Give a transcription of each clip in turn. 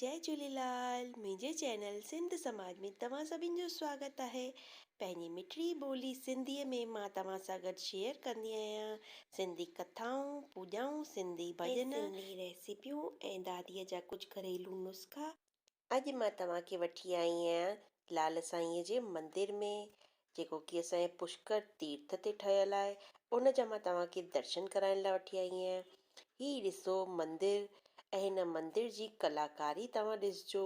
جئي جھوليلال منهنجي چينل سنڌ سماج ۾ توهان سڀين جو سواگت آهي پنهنجي مٺڙي ٻولي سنڌي ۾ مان توهان سان گڏ شيئر ڪندي آهيان سنڌي ڪٿائون پوڄائون سنڌي ڀڄن سنڌي ريسيپيون ۽ داديء جا ڪجھ گھريلو نسخا. اڄ مان توهان کي وٺي آئي آهيان لال سائينء جي مندر ۾ جيڪو ڪي اسانجي پشڪر تيرٿ تي ٺهيل آهي ان جا مان توهان کي درشن ڪرائڻ لاء وٺي آئي آهيان هي ڏسو مندر ۽ هن مندر جي ڪلاڪاري توهان ڏسجو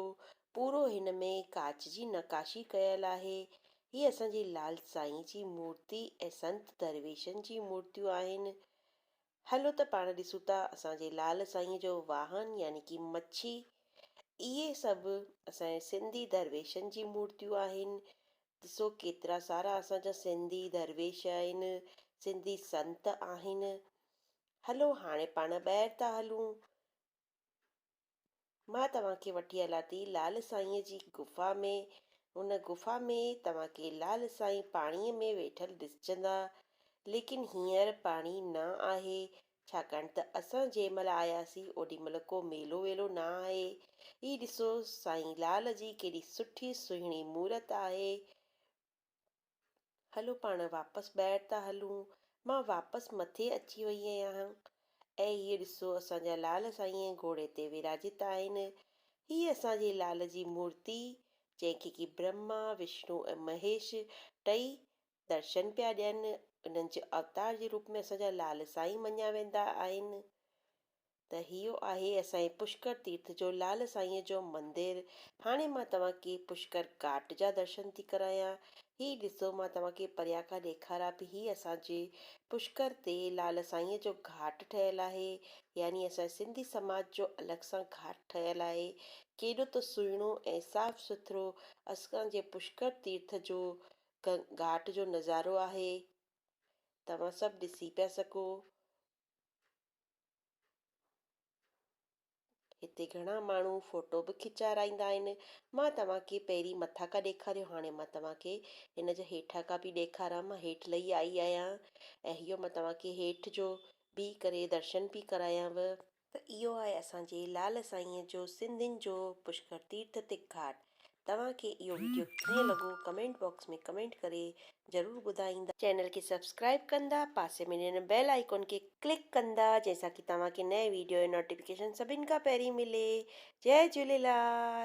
پورو هن ۾ ڪاچ جي نقاشي ڪيل آهي هي اسانجي لال سائين جي مورتي ۽ سنت درويشن جي مورتيون آهن هلو ته پاڻ ڏسون ٿا اسان جي لعل سائينء جو واهن يعني ڪي مڇي اهي سڀ اسان جي سنڌي درويشن جي مورتيون آهن ڏسو ڪيترا سارا اسان جا سنڌي درويش آهن سنڌي سنت آهن هلو هاڻي پاڻ ٻاهر ٿا هلون. مان توهان کي وٺي هلان ٿي لعل سائينء جي غفا ۾، ان غفا ۾ توهان کي لعل سائين پاڻيء ۾ ويٺل ڏسجندا، ليڪن هينئر پاڻي نه آهي، ڇاڪاڻ ته اسان جنهن مهل آياسين اوڏي مهل ڪو ميلو ويلو نه آهي، هي ڏسو سائين لعل جي ڪيڏي سٺي سهڻي مورت آهي، هلو پاڻ واپس ٻاهر ٿا هلون. مان واپس مٿي اچي وئي آهيان. اي هيء ڏسو اسان جا لعل سائين گهوڙي تي وراجيت آهن. هيء اسان جي لعل جي مورتي جنهن کي ڪي برهما، وشنو ۽ مهيش ٽئي درشن پيا ڏين. انهن جي اوتار جي روپ ۾ اسان جا لعل سائين مڃيا ويندا آهن. ته هيء آهي اسان جي پشڪر تيرٿ جو لعل سائينء جو مندر. هاڻي مان توهان کي پشڪر گهاٽ جا درشن ٿي ڪرايان. هي ڏسو مان توهان کي پريان کان ڏيکاران پئي هي اسان جي پشڪر تي لعل سائينء جو گهاٽ ٺهيل آهي. يعني اسان جي سنڌي سماج جو الڳ سان گهاٽ ٺهيل آهي. ڪيڏو ته سهڻو ۽ صاف سٿرو اسان جي پشڪر تيرٿ جو گهاٽ جو نظارو آهي. توهان سڀ ڏسي پيا سگهو. هتي گهڻا ماڻهو فوٽو به کيچارائيندا آهن مان توهان کي پهرين مٿان کان ڏيکاريو هاڻي مان توهان کي هن جا هيٺان کان به ڏيکاران مان هيٺ لهي آئي آهيان ۽ اهو مان توهان کي هيٺ جو بيهي ڪري درشن پي ڪرايانو ته اهو آهي اسان جي لعل سائينء جو سنڌين جو پشڪر تيرٿ تي گهاٽ توهان کي اهو وڊيو ڪيئن لڳو ڪمينٽ باڪس ۾ ڪمينٽ ڪري ضرور ٻڌائيندا. چينل کي سبسڪرائيب ڪندا پاسي ۾ ڏنل بيل آئيڪون کي ڪلڪ ڪندا جنهن سان ڪي توهان کي نئين وڊيو جو نوٽيفڪيشن سڀن کان پهرين ملي جئي جهوليلال.